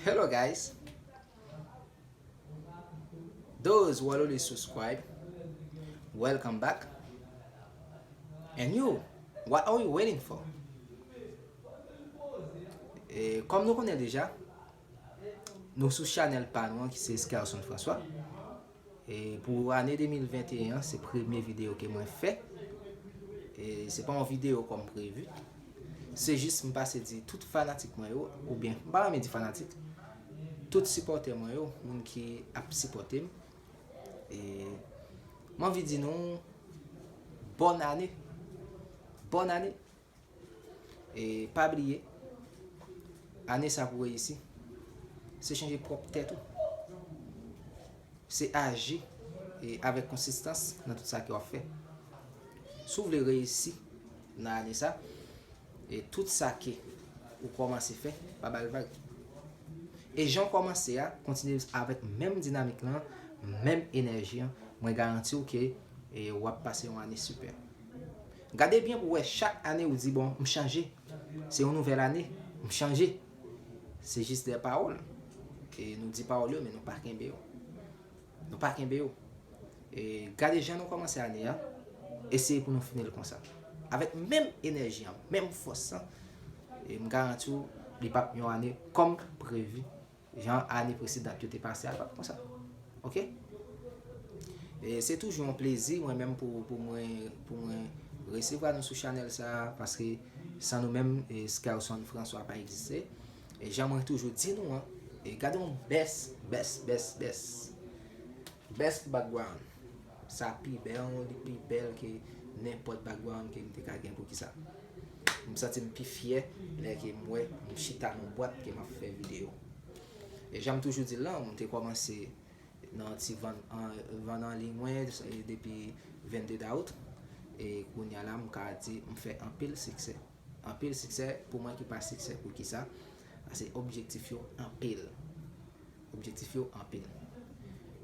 Hello guys Those who are already subscribed Welcome back And you What are you waiting for Kom nou konnen deja Nou sou chanel pa nou an ki se Skelson François E pou ane 2021 an se premye video ke mwen fè. E se pa yon video kòm prevu. Se jis m pase di tout fanatik mwen yo, ou byen m pa renmen di fanatik, tout sipòtè mwen yo, moun ki ap sipòte m. E m anvi di nou bòn ane. Bòn ane. E pa bliye, ane sa pou reyisi, se chanje pwòp tèt ou. Se aji avèk konsistans nan tout sa ke wap fè. Si w vle reyisi nan ane sa, e tout sa ke ou kòmanse fè, pa bal vag. E jan w kòmanse a, kontinye avèk menm dinamik lan, menm enèji an, mwen garanti w ke wap pase yon ane sipè. Gade byen pou wè chak ane ou di bon m chanje se yon nouvèl ane m chanje se jis de pawòl e nou di pawòl yo men nou pa kenbe yo nou pa kenbe yo e gade jan nou kòmanse ane a eseye pou nou fini l konsa avèk menm enèji an menm fòs lan e m garanti w li pap yon ane kòm previ. Jan ane presedant yo te pase a l pap konsa ok se toujou yon plezi mwen menm pou mwen resevwa nou sou chanèl sa paske san nou menm Skerson François pa egziste e jan mwen toujou di nou an e gade yon best best best best best background Sa pi bèl, li pi bèl ke nenpòt background ke m te ka gen poukisa. M santi m pi fyè lè ke m wè m chita nan bwat ke m ap fè videyo. E jan m toujou di l lan, m te kòmanse nan ti vann vann an liy mwen depi 22 dawout e kounya la m ka di m fè anpil siksè. Anpil siksè pou mwen ki pa siksè poukisa pase objektif yo anpil objektif yo anpil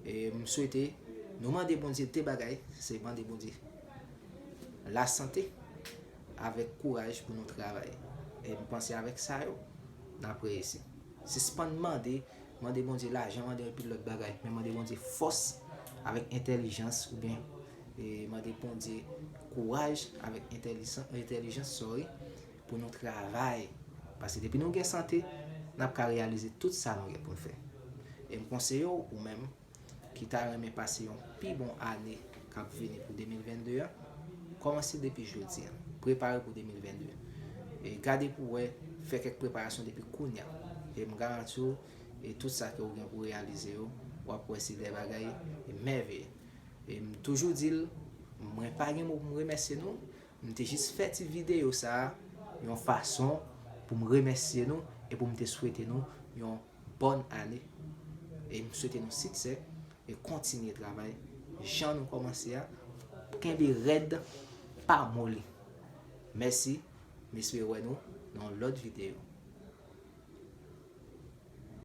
e m swete nou mande Bondye de bagay se mande Bondye la sante avèk kouraj pou nou travay e m panse avèk sa yo n ap reyisi sispann mande mande Bondye lajan mande anpil lòt bagay men mande Bondye fòs avèk entèlijans oubyen E mande Bondye kouraj avèk entèlijans sorry pou nou travay paske depi nou gen sante nap ka reyalize tout sa nou gen poun fè e m konseye w ou menm ki ta renmen pase yon pi bon ane kap vini pou 2022 an kòmanse depi jodi an prepare pou 2022 e gade pou wè fè kèk preparasyon depi kounya e m garanti w e tout sa ke ou gen pou reyalize yo wap wè se de bagay mèveye. E m toujou di l, mwen pa gen mo pou m remèsye nou, m te jis fè ti videyo sa a yon fason pou m remèsye nou e pou m te swete nou yon bòn ane. E m swete nou siksè e kontinye travay jan nou kòmanse a, kenbe rèd pa moli. Mèsi, m espere wè nou nan yon lòt videyo.